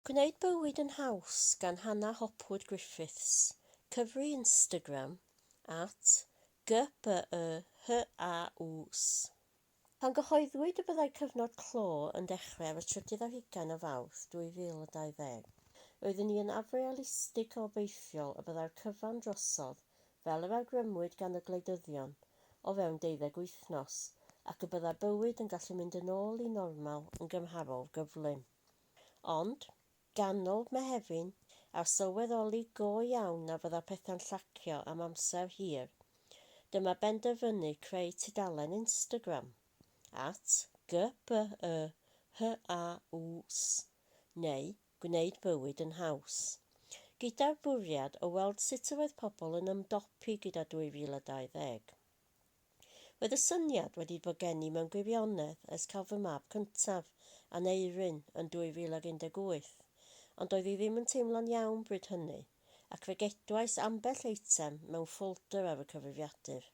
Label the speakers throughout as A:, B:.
A: Gwneud bywyd yn haws gan Hannah Hopwood Griffiths, cyfri Instagram, at GPYHAUs. Pan gyhoeddwyd y byddai cyfnod clo yn dechrau ar y trydydd ar hugain o Fawrth 2020, roeddwn ni yn afrealistig o obeithiol y byddai'r cyfan drosodd fel yr awgrymwyd gan y gwleidyddion, o fewn deuddeg wythnos, ac y byddai bywyd yn gallu mynd yn ôl i normal yn gymharol gyflym. Ond, ganol Mehefin, a sylweddoli go iawn na fydda pethau'n llacio am amser hir, dyma benderfynu creu tudalen Instagram, at, GBYHAUS, neu Gwneud Bywyd yn Haws, gyda'r bwriad o weld sut yr oedd pobl yn ymdopi gyda 2020. Roedd y syniad wedi bod gen i mewn gwirionedd ers cael fy mab cyntaf, Aneurin, yn 2018, ond doedd hi ddim yn teimlo'n iawn bryd hynny, ac fe gedwais ambell eitem mewn ffoldr ar y cyfrifiadur.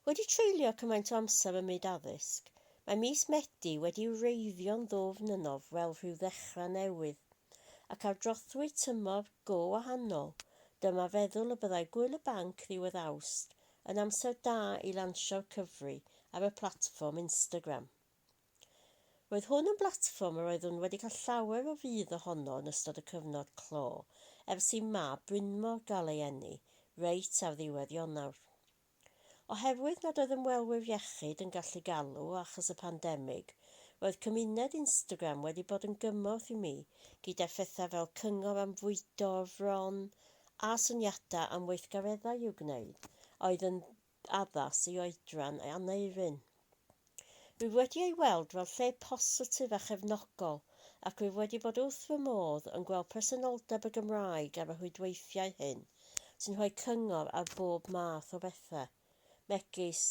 A: Wedi treulio cymaint o amser ym myd addysg, mae mis Medi wedi wreiddio'n ddwfn ynof fel rhyw ddechrau newydd. ac ar drothwy tymor go wahanol, dyma feddwl y byddai Gŵyl y Banc ddiwedd Awst yn amser da i lansio'r cyfri ar y platfform Instagram. Roedd hwn yn blatfform yr oeddwn wedi cael llawer o fudd ohono yn ystod y cyfnod clo ers i mab Brynmor gael ei eni reit ar ddiwedd Ionawr. Oherwydd nad oedd ymwelwyr iechyd yn gallu galw achos y pandemig, roedd cymuned Instagram wedi bod yn gymorth i mi gyda phethau fel cyngor am fwydo o'r fron a syniadau am weithgareddau i'w gwneud a oedd yn addas i oedran Aneurin. Rwyf wedi ei weld fel lle positif a chefnogol ac rwyf wedi bod wrth fy modd yn gweld presenoldeb y Gymraeg ar y rhwydweithiau hyn sy'n rhoi cyngor ar bob math o bethau, megis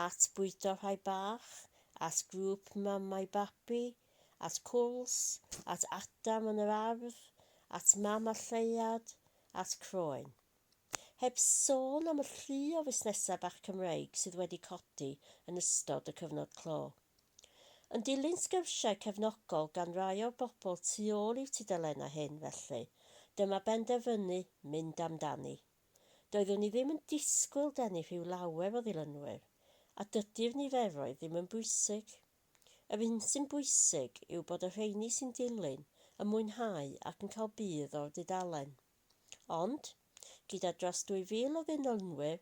A: at bwydo rhai bach, at grŵp mamau babi, at cwls, at Adam yn yr ardd, at mam a lleuad, at croen. Heb sôn am y llu o fusnesau bach Cymreig sydd wedi codi yn ystod y cyfnod clo. Yn dilyn sgyrsiau cefnogol gan rai o'r bobl tu ôl i'w tudalennau hyn, felly, dyma benderfynu mynd amdani. Doeddwn i ddim yn disgwyl denu rhyw lawer o ddilynwyr, a dydy'r niferoedd ddim yn bwysig. Yr hyn sy'n bwysig yw bod y rheini sy'n dilyn yn mwynhau ac yn cael budd o'r dudalen. Ond, gyda dros 2,000 o ddynolynwyr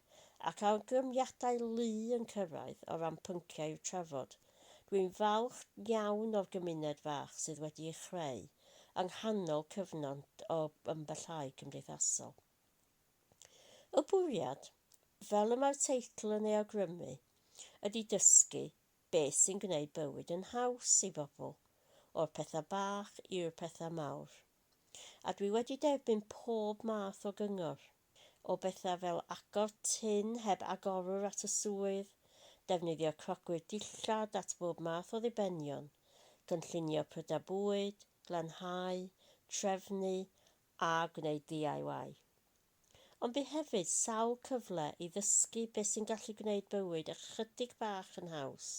A: ac awgrymiadau lu yn cyrraedd o ran pynciau i'w trafod, dwi'n falch iawn o'r gymuned fach sydd wedi ei chreu yng nghanol cyfnod o ymbellhau cymdeithasol. Y bwriad, fel y mae'r teitl yn ei awgrymu, ydy dysgu beth sy'n gwneud bywyd yn haws i bobl, o'r pethau bach i'r pethau mawr. a dwi wedi derbyn pob math o gyngor, o bethau fel agor tun heb agorwr at y swydd, defnyddio crocwyr dillad at bob math o ddibenion, cynllunio prydau bwyd, glanhau, trefnu a gwneud DIY. Ond bu hefyd sawl cyfle i ddysgu beth sy'n gallu gwneud bywyd ychydig bach yn haws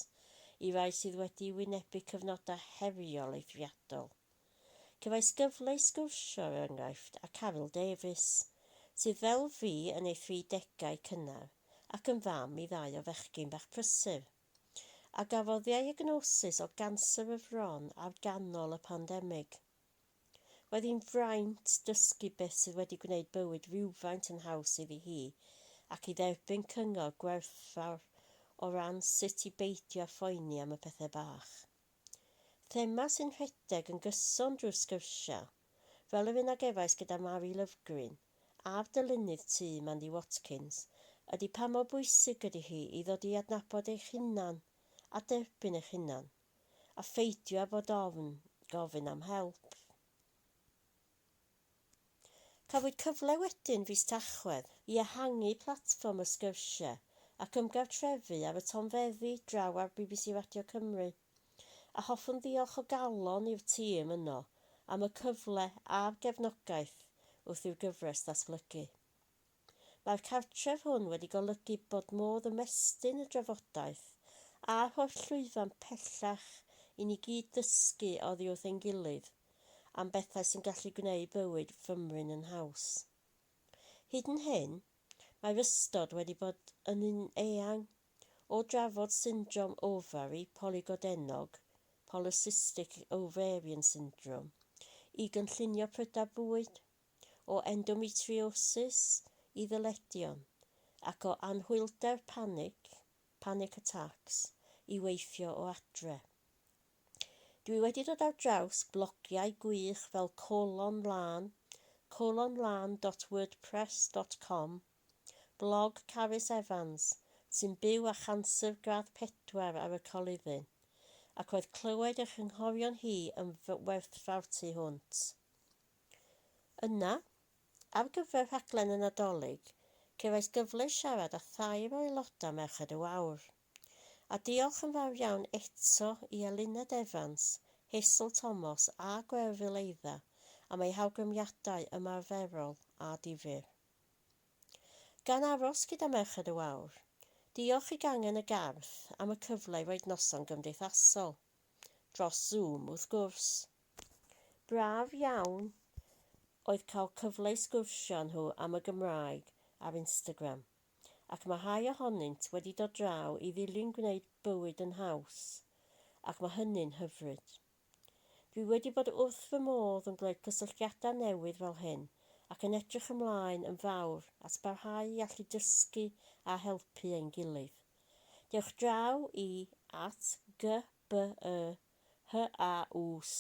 A: i rai sydd wedi wynebu cyfnodau heriol eithriadol. Cefais gyfle i sgwrsio, er enghraifft, â Caryl Davies, sydd fel fi yn ei thri degau cynnar ac yn fam i ddau o fechgyn bach prysur, a gafodd ddiagnosis o ganser y fron ar ganol y pandemig. Roedd hi'n fraint dysgu beth sydd wedi gwneud bywyd rywfaint yn haws iddi hi ac i dderbyn cyngor gwerthfawr o ran sut i beidio â phoeni am y pethau bach. Thema sy'n rhedeg yn gyson drwy'r sgyrsiau, fel yr un a gefais gyda Mari Lovgreen, a'r dylunydd tŷ, Mandy Watkins, ydy pa mor bwysig ydy hi i ddod i adnabod eich hunan a derbyn eich hunan, a pheidio â bod ofn gofyn am help. Cafwyd cyfle wedyn fis Tachwedd i ehangu platfform y sgyrsiau ac ymgartrefu ar y tonfeddi draw ar bbc Radio Cymru, a hoffwn ddiolch o galon i'r tîm yno am y cyfle a'r gefnogaeth wrth i'r gyfres ddatblygu. Mae'r cartref hwn wedi golygu bod modd ymestyn y drafodaeth a rhoi'r llwyfan pellach i ni gyd ddysgu oddi wrth ein gilydd am bethau sy'n gallu gwneud bywyd fymryn yn haws. Hyd yn hyn, mae'r ystod wedi bod yn un eang, o drafod syndrom ofari polygodennog, polycystic ovarian syndrome, i gynllunio prydau bwyd, o endometriosis i ddyledion ac o anhwylder panig, panic attacks, i weithio o adre. Dwi wedi dod ar draws blogiau gwych fel Colon Lân, colonlân.wordpress.com, blog Carys Evans, sy'n byw â chanser gradd pedwar ar y coluddyn, ac roedd clywed ei chynghorion hi yn fy werthfawr tu hwnt. Yna, ar gyfer rhaglen y Nadolig, cefais gyfle i siarad â thair o aelodau Merched y Wawr. A diolch yn fawr iawn eto i Eluned Evans, Hazel Tomos a Gwerfyl Eidda am eu hawgrymiadau ymarferol a difyr. Gan aros gyda Merched y Wawr, diolch i Gangen y Garth am y cyfle i roid noson gymdeithasol, dros Zoom wrth gwrs. Braf iawn oedd cael cyfle i sgwrsio â nhw am y Gymraeg ar Instagram, ac mae rhai ohonynt wedi dod draw i ddilyn gwneud bywyd yn haws, ac mae hynny'n hyfryd. Dwi wedi bod wrth fy modd yn gwneud cysylltiadau newydd fel hyn ac yn edrych ymlaen yn fawr at barhau i allu dysgu a helpu ein gilydd. Dewch draw i at gy BE, HAUS,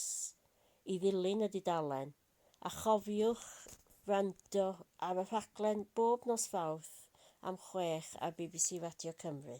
A: i ddilyn y dudalen, a chofiwch wrando ar y rhaglen bob nos Fawrth am chwech ar bbc Radio Cymru.